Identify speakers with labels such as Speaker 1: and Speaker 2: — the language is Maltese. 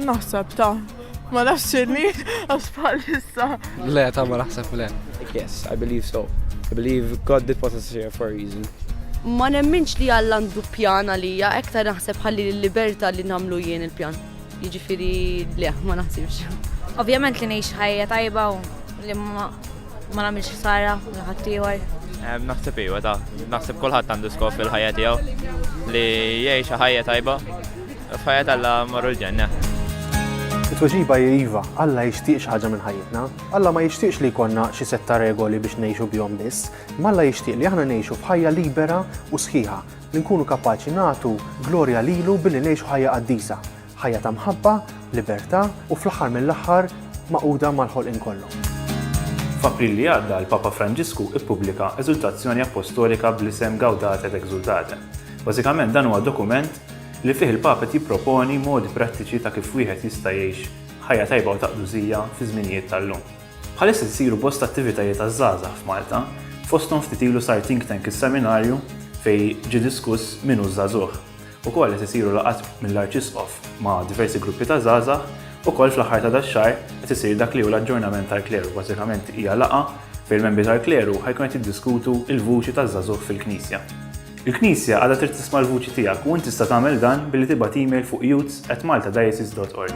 Speaker 1: Naħseb ta' ma nafx xinni għax bħalissa. Le, ta' ma
Speaker 2: naħseb le. Yes, I believe
Speaker 3: so. I believe God did put us here for a reason. Ma nemminx
Speaker 4: li Alla għandu pjan għalija, ektar naħseb ħalli l-liberta li namlu jien il-pjan. Jiġifieri le, ma naħsibx. Ovvjament li ngħix
Speaker 5: ħajja tajba u li ma nagħmilx ħsara lil ħaddieħor. Naħseb iva
Speaker 6: ta', naħseb kulħadd għandu skop fil-ħajja tiegħu li jgħix ħajja tajba f'ħajja tal-la marru l-ġenna.
Speaker 7: It-tweġiba hi iva, Alla jixtieq xi ħaġa minn ħajjitna. Alla ma jixtieqx li jkollna xi setta regoli biex ngħixu bihom biss, ma Alla jixtieq li aħna ngħixu f'ħajja libera u sħiħa, li nkunu kapaċi nagħtu glorja lilu billi ngħixu ħajja qaddisa, ħajja ta' mħabba, libertà u fl-aħħar mill-aħħar magħquda mal-ħolqien kollu.
Speaker 8: F'April li għadda l-Papa Franġisku ppubblika Eżultazzjoni Appostolika bl-isem Gaudate et Exultate. Bażikament dan huwa dokument li fih il-Papa qed jipproponi modi prattiċi ta' kif wieħed jista' jgħix ħajja tajba u ta' qdusija fiż-żminijiet tal-lum. Bħalissa qed isiru bosta attivitajiet għaż-żgħażagħ f'Malta, fosthom ftit ilu sar Think Tank is-Seminarju fejn ġie diskuss min hu ż-żagħżugħ. Ukoll qed isiru laqgħat mill-Arċisqof ma' diversi gruppi ta' żgħażagħ, ukoll fl-aħħar ta' dax-xahar qed isir dak li hu l-Aġġornament tal-Kleru, bażikament hija laqgħa fejn il-membri tal-Kleru ħa jkunu qed jiddiskutu l-vuċi taż-żagħżugħ fil-Knisja. Il-Knisja għadha trid tisma' l-vuċi tiegħek u int tista' tagħmel dan billi tibgħat email fuq youths@maltadiocese.org.